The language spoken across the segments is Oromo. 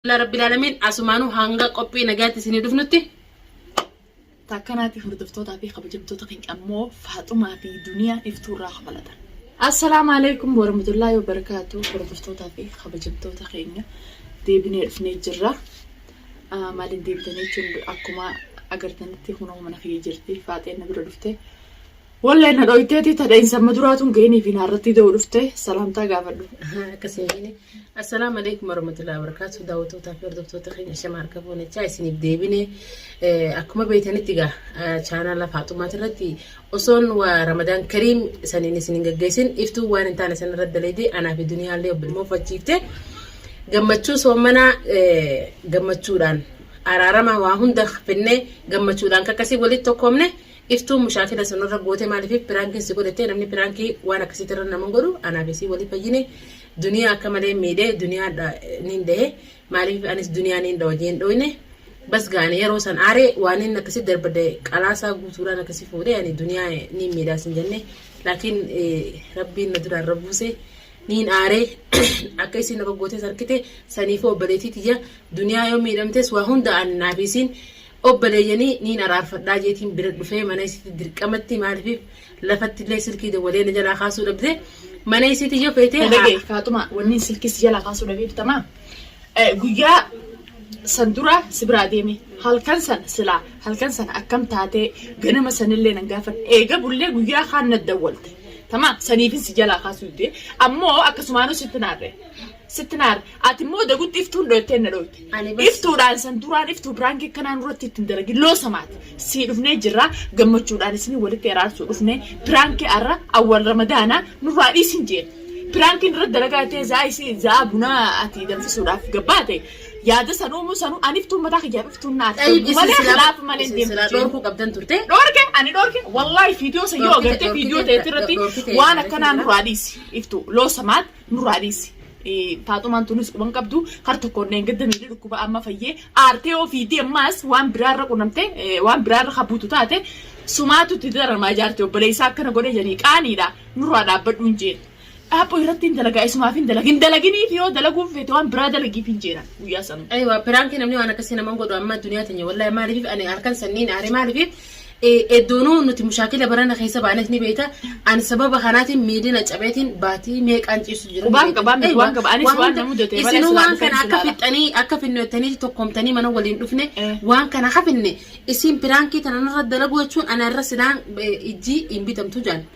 Alhamdulillah Rabbil Alamin asumaanuu hanga qophii nagaatti isinii dhufnutti takkanaatti hordoftootaa fi kabajamtoota keenya ammoo Faaxumaa fi Duniyaa iftuu irraa kabalata. Assalaamu alaikum warahmatullahi wabarakatuh hordoftootaa fi kabajamtoota keenya deebinee dhufnee jirra. Ah, Maaliin deebitanii jechuun akkuma agartanitti kunoo mana kiyya jirti faaxeen na bira dhufte. Wallay na dhoyteeti ta dhainsa amma duraa tun geenii fi naarrattii da'uu dhufte salaamtaa gaafadhu. Akkasii jedhini. Assalaamu alaikum warahmatullahi wabarakatuh. Daawwattootaa fi hordoftoota keenya shama harka fuunechaa isiniif deebine. Akkuma beektanitti egaa chaanaala Faaxumaati irratti osoon waa Ramadaan Kariim saniin isin hin gaggeessin iftuu waan hin taane san irratti daleedee anaa fi duniyaallee obbilmoo fachiifte. Gammachuu soomanaa gammachuudhaan araarama waa hunda finnee gammachuudhaan kakkasii walitti tokkoomne. Iftuun mushaakila sun irra goote maaliif piraankiin si godhette namni piraankii waan akkasiitti irra naman godhu anaaf isii waliif fayyine duniyaa akka malee miidhe duniyaa niin dhahe maaliif anis duniyaa niin dhawa jeen dhooyne bas gaani yeroo san aare waan inni akkasii darbade qalaasaa guutuudhaan akkasii fuudhe ani duniyaa niin miidhaas hin jenne laakiin rabbiin na duraan rabbuuse niin aare akka isiin irra goote sarkite saniifuu obboleetii tiyya duniyaa yoo miidhamtes waa hunda ani naaf isiin Obboleeyyani niin araarfadhaa jeetiin bira dhufee mana isiiti dirqamatti maalifi lafattillee silkii dawwalee na jalaa kaasuu dhabde mana isiiti yoo feete haa. Dhagee faaxumaa wanniin silkii si jalaa kaasuu dhabee bitamaa guyyaa san dura si biraa deeme halkan san silaa halkan san akkam taatee ganama sanillee nan gaafan eega bullee guyyaa kaan na dawwalte tamaa saniifin si jalaa kaasuu didee ammoo akkasumaanuu sitti naarre Sitti naare. Ati immoo dagutti iftuun dhoyteen na dhoyte. Ani bas- Iftuudhaan san duraan iftuu biraankii akkanaa nurratti ittiin dalagin loosa maati. Sii dhufnee jirra gammachuudhaan isinii walitti araarsuu dhufne. Biraankii arra awwal ramadaanaa nurraa dhiisin jeen. Biraankiin irratti dalagaa ta'e za'aa isii za'aa bunaa ati danfisuudhaaf gabbaate. Yaada san uumuu sanuu ani iftuun mataa kiyyaaf iftuun naaf Xayyib toltu isin malee silaa khilaafa malee isin deemtu silaa jeen. dhorkuu qabdan turte. Dhorke ani dhorke wallahi viidiyoo san yoo Dhorkite, agartee viidiyoo dhorkite, ta'etti irratti dhorkite, waan dhorkite, akkanaa dhorkite. nurraa dhiisi iftu loosa maati. nurraa dhiisi. Faaxumaan tunis quban qabdu har tokkoon dheengadda miilli dhukkuba amma fayyee aartee ofiitii ammaas waan biraarra qunnamte waan biraarra habuutu taate sumaatu itti daramaa jaarti obboleessaa akkana godhe jedhanii qaaniidha nurraa dhaabbadhu hin jeen. Dhaaphoo irratti hin dalagaa isumaaf hin dalagin hin dalaginiif yoo dalaguuf feete waan biraa dalagiif hin jeena guyyaa sanu. Aywa piraanki namni waan akkasii naman godhu amma duniyaa tanya wallahi maaliif ani halkan sanniin aare maaliif Eddoonuu nuti mushaakila barana keessa baanes ni beekta. Ani sababa kanaatiin miilli na cabeetiin baatii meeqaan ciisu jira. Qubaan qabaa miti, waan qaba. Anis waan na mudate, balas Isinuu waan waan kana dhufeetu akka ilaala. fixxanii akka finnottanii tokkomtanii mana waliin dhufne Eh. waan kana akka finne isin piraankii tana narra dalaguu jechuun ana irra silaan eh, ijji hin bitamtu jaan.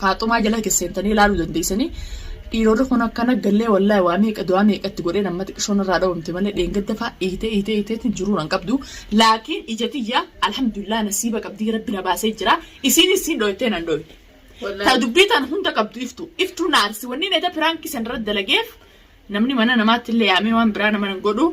Faaxumaa jala keesseentanii ilaaluu dandeessanii dhiironni kun akkana gallee wallaahi waa meeqa du'aa meeqa itti godheen amma xiqqishoon irraa dhawamte malee dheengadda fa'a iitee iitee iiteetiin jiruu nan qabdu laakiin ija tiyya alhamdulillah nasiiba qabdii rabbi na baasee jira isiin isiin dhooytee nan dhooyne. Ta dubbii tan hunda qabdu iftu iftuu naarsi wanni neeta piraankii san irra dalageef Namni mana namaatti illee yaamee waan biraa nama hin godhu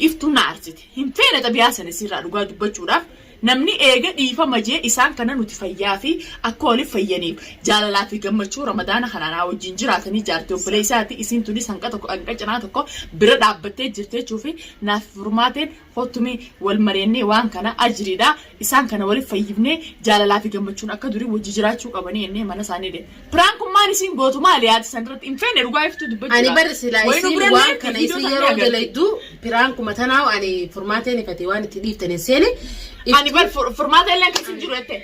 iftuun na aarsite. Hin feene xabiyaa sana isiirraa dhugaa dubbachuudhaaf namni eega dhiifama jee isaan kana nuti fayyaa fi akka waliif fayyaniif jaalalaa fi gammachuu ramadaana kanaa naa wajjin jiraatanii jaartii obboleessaati isiin tunis hanqa tokko hanqa cinaa tokko bira dhaabbattee jirti jechuufi naaf furmaateen Koottu mee wal mareennee waan kana ajriidha isaan kana waliif fayyifnee jaalalaa fi gammachuun akka durii wajji jiraachuu qabanii jennee mana isaanii deemne. Prank kun maal isiin gootu maali yaada san irratti hin feene dhugaa iftuu dubbachuu Ani dha. bar silaa Wayinu isiin bira waan illee kana viidiyoo isin isaanii yeroo agarti. dalaydu piraankuma tanaawu ani furmaatee nifate waan itti dhiiftan hin seene. Ani bar fur- furmaata illee keessa hin jiru jettee.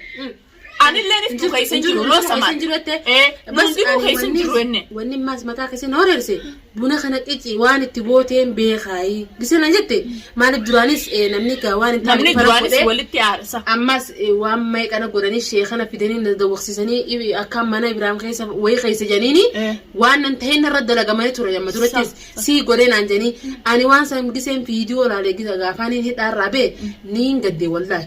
Anillee niftuu Injiru- keessa hin injiru- jiru injiru loosa keessa maal. hin jiru jettee? Eh, Bas nuun dhibuu ani keessa hin wanni- jiru jenne. Wanni maas mataa keessa na horeerse buna kana qici waan itti gooteen beekaayi. Gisee na jette maaliif duraanis eh, namni gaa waan hin taane Namni dhufana duraanis godhee, walitti aarsa. ammas eh, waan meeqana godhanii sheekana fidanii na dawwaqsiisanii ibi- akka mana Ibraahim keessa wayii keessa janiini Eh. waan nan ta'een narra dalagamanii ture yamma durattis Sa- sii godhee naan janii ani waan san giseen viidiyoo laalee gisa gaafaan hin hidhaarraa bee niin gaddee wallaahi.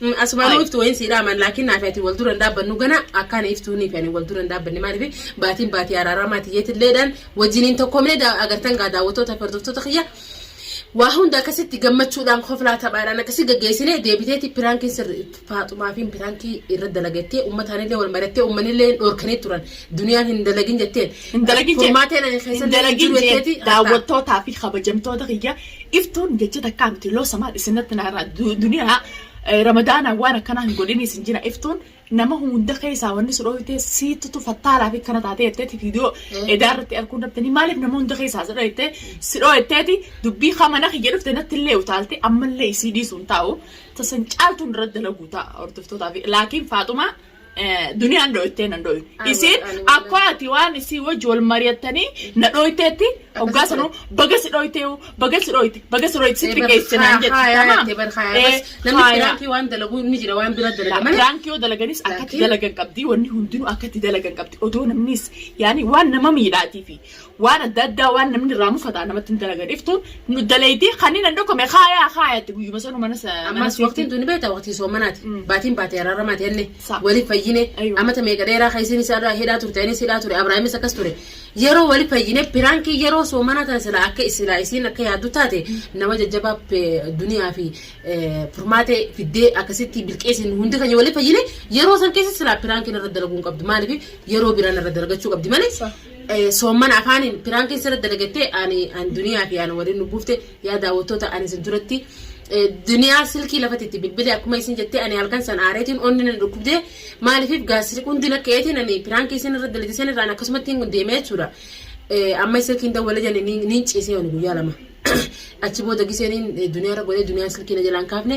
Mm, Asumaan Hai. iftu wayin sii dhaaman laakiin naafi ati wal dura hin dhaabbannu gana akkaan iftuu niifi ani wal dura hin dhaabbanne maaliif baatiin baatii araaraa maatii jeetilleedhaan wajjin hin tokkoomne daa- agartan gaa daawwattoota hordoftoota kiyya waa hunda akkasitti gammachuudhaan koflaa taphaadhaan akkasii gaggeessine deebiteeti piraankii sirri faaxumaa fi piraankii irra dalagattee ummataanillee wal marattee ummanillee hin dhoorkanii turan duniyaan hin dalagin jetteen Hin dalagin jeen. furmaateen ani Hin keessallee hin dalagin jiru jeen. jetteeti daawwattootaa fi kabajamtoota kiyya Iftuun jecha takkaa miti loosa maal isinatti naa irraa duniyaa ramadaanaa waan akkanaa hin godhini isin jira iftuun nama hunda keessaa wanni si dhooyte siitutu fattaalaa fi kana taatee jetteeti viidiyoo edaa irratti arguu irratti maaliif nama hunda keessaa si dhooyte si dhooyteeti dubbii kamana kiyya dhufte natti illee utaalte ammallee isii dhiisuun taa'u tasan caaltuun irratti dalaguu ta'a hordoftootaa fi laakiin faaxumaa Duniyaan dhooytee nan dhooyne. Isiin akkoo ati waan isii wajji wal mari'attanii na dhooyteetti hoggaa sanuu baga si dhooytee baga si dhooyte baga si dhooyte si xiqqeesse naan jette. Tamaam. Namni Haaya. piraankii waan dalagu ni jira waan bira dalaga malee. Piraankii yoo dalaganis akkatti Piraankii? dalagan qabdi wanni hundinuu akkatti dalagan qabdi odoo namnis yaani waan nama miidhaatiifi waan adda addaa waan namni irraa mufataa namatti hin dalagan iftuun nu dalaydii kanneen hin dhokome kaayaa kaayatti guyyuma sanuu mana sa- mana Ammas waqtiin suuqii. tuni beektaa waqtii soomanaati. Mm. Baatiin baatee araaramaati henne. Sa- Waliif fayyine. Ayyo. Amata meeqa dheeraa kan isiin isaa hidhaa turte anis hidhaa ture Abrahaamis akkas ture. Yeroo waliif fayyine piraankii yeroo soomanaa tana silaa akka isilaa isiin akka yaaddu taate nama jajjabaa pe- duniyaa fi eh, furmaatee fiddee akkasitti bilqeessin hundi keenya waliif fayyine yeroo san keessa silaa piraankiin irra dalaguu hin qabdu maaliif yeroo biraan irra dalagachuu qabdi malee. Sa- Soommana afaaniin piraankiin sirra dalagatte ani an duniyaa fi an waliin nu buufte yaa daawwattoota ani isin duratti duniyaa silkii lafatti itti bilbile akkuma isin jettee ani halkan san aareetiin onni na dhukkubdee maaliif gaasri hundi na ka'eetiin ani piraankii isin irra dalagde san irraan akkasumatti hin deemee jechuudha. Amma silkiin dawwala jenne niin ciisee ani guyyaa lama achi booda gisee niin duniyaa irra godhee duniyaan silkii na jalaan kaafne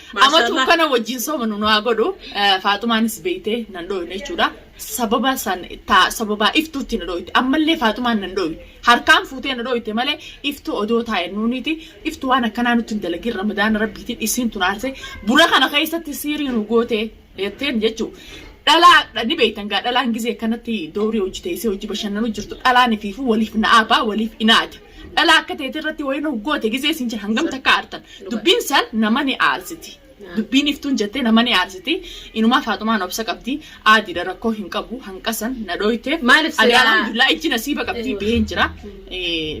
Amatu kana wajjin soomanu nu haa godhu. Faaxumaanis beeyte nan dhooyne jechuudha. Sababa san taa sababaa iftuutti na dhooyte. Ammallee Faaxumaan nan dhooyne. Harkaan fuutee na dhooyte malee iftuu odoo taa'e nuuniiti. Iftu waan akkanaa nutti hin dalagin ramadaana rabbiitiin isiin tun aarse. Buna kana keessatti siirii nu goote. jetteen jechuu dhalaa ni beektan gaa dhalaan gizee akkanatti doorii hojii teessee hojii bashannanu jirtu dhalaan ifiifu waliif na'aabaa waliif inaata dhalaa akka teete irratti wayii nu goote gizee isin jira hangam takka aartan dubbiin san nama ni aarsiti dubbiin iftuun jettee nama ni aarsiti inumaa faaxumaan obsa qabdi aadiidha rakkoo hin qabu hanqasan na dhooyte Maaliif silaa- Ani alhamdulillah ijji nasiiba qabdi baheen jira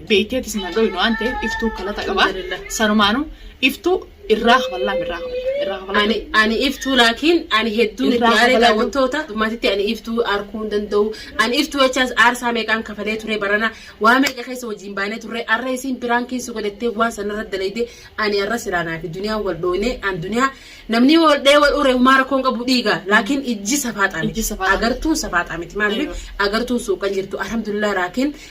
beekteetis na dhooyne waan ta'eef iftuu kalata qaba Alhamdulillah. sanumaanu iftuu irraa kafallaam irraa kafallaam irraa kafallaam ani ani iftuu laakiin ani hedduun itti aaree daawwattoota maatitti ani iftuu arkuu hin danda'u ani iftuu jechaas aarsaa meeqaan kafalee ture barana waa meeqa keessa wajjin baanee turre arra isiin biraan keessa godhattee waan sanarra dalayde ani arra siraanaa fi duniyaan wal dhoone an duniyaa namni wal dhee wal ure humaa rakkoon qabu dhiiga laakiin ijji safaaxaa miti agartuun safaaxaa miti maaliif agartuun suuqan jirtu alhamdulillah laakiin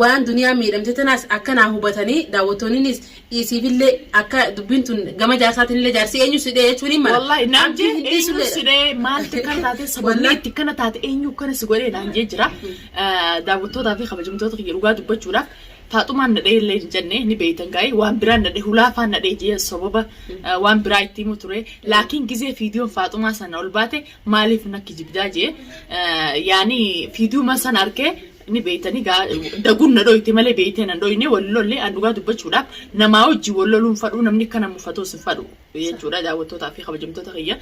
Waan duniyaan miidhamte tanaas akka naa hubatanii daawwattoonninis dhiisiifillee akka dubbiin tun gama jaarsaatinillee jaarsi eenyu si dhee jechuun hin mala. Wallahi naan Abdii jee hin eenyu dhiisullee si dhee maaltu akkana taatee sababni Wallahi. itti akkana taate eenyu akkana si godhee naan jee jira. Daawwattootaa fi kabajamtoota kiyya dhugaa dubbachuudhaaf taaxumaan nadhee illee hin jenne ni beeytan gaa'ii waan biraan nadhee hulaafaan nadhee jee sababa eh, waan biraa itti himu ture laakiin gizee fiidiyoon faaxumaa sana ol baate maaliif nakki jibdaa jee eh, yaani fiidiyuma sana argee Ni beeytanii gaa daguun na dhoyte malee beeytee nan dhoyne wal lolle an dhugaa dubbachuudhaaf namaa wajjin wal loluun fadhuu namni akka na mufatoos hin fadhu jechuudha daawwattootaa fi kabajamtoota kiyya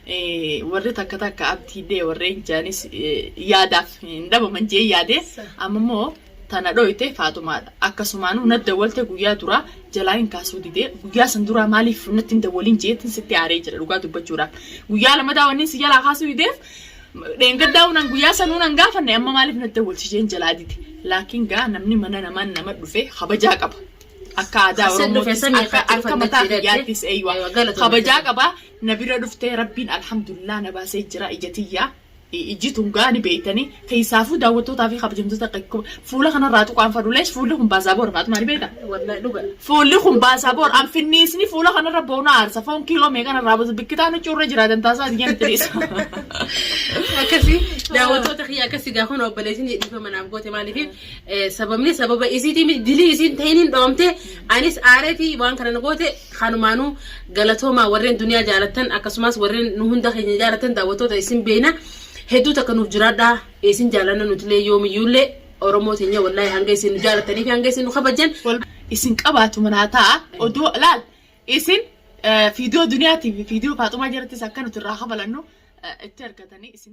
Eh, warri takka takka abdiillee warreen jaanis eh, yaadaaf hin dhabaman jee yaade amma immoo tana dhoyte faaxumaadha akkasumaanuu na dawwalte guyyaa duraa jalaa hin kaasuu dide guyyaa san duraa maaliif natti hin dawwalin jeetin sitti aaree jira dhugaa dubbachuudhaaf guyyaa lamadaa wanni si jalaa kaasuu dideef Dheengaddaa unan guyyaa sanuu nan gaafanne amma maaliif natti wal-shisheen jalaa dide. Laakiin gaa namni mana namaan nama dhufe kabajaa qaba. Akka aadaa Asin dhufe Oromootis sani akka irratti akka dhufanne mataa jedhadhe. kiyyaattis eeyyuu Eewa, galatoomi. kabajaa qaba. Na bira dhuftee rabbiin alhamdulillah na baasee jira ija tiyyaa. Iji tun gaa ni beeytanii. Keessaafuu daawwattootaa fi kabajamtoota fuula kanarraa tuqaan fadulees fuulli kun baasaa boora faatu maali beekta? Wallahi dhuga. Fuulli kun baasaa boora anfinniisni fuula kanarra ba'u na aarsa foon kiiloo meeqan irraa butu bikkitaan huccuu irra jiraatan taasaa diyyaan itti dhiisa. Akkasi daawwattoota kiyya akkasi gaa kun obboleessin dhiifa manaaf goote maaliif sababni sababa isiitii miti dilii isiin ta'iniin dhoomte anis aareetii waan kana na goote kanumaanuu galatoomaa warreen duniyaa jaalattan akkasumas warreen nu hunda keenya jaalattan daawwattoota isin beeyna Hedduu takka nuuf jiraadhaa isin jaalanna nutilee yoomiyyuullee Oromoo teenya wallaahi hanga isin nu jaalatanii fi hanga isin nu kabajjan wal isin qabaatu manaa ta'a oduu laal isin fiidiyoo duniyaa tiivi fiidiyoo faaxumaa jirattis akka nuti irraa kabalannu itti argatanii isin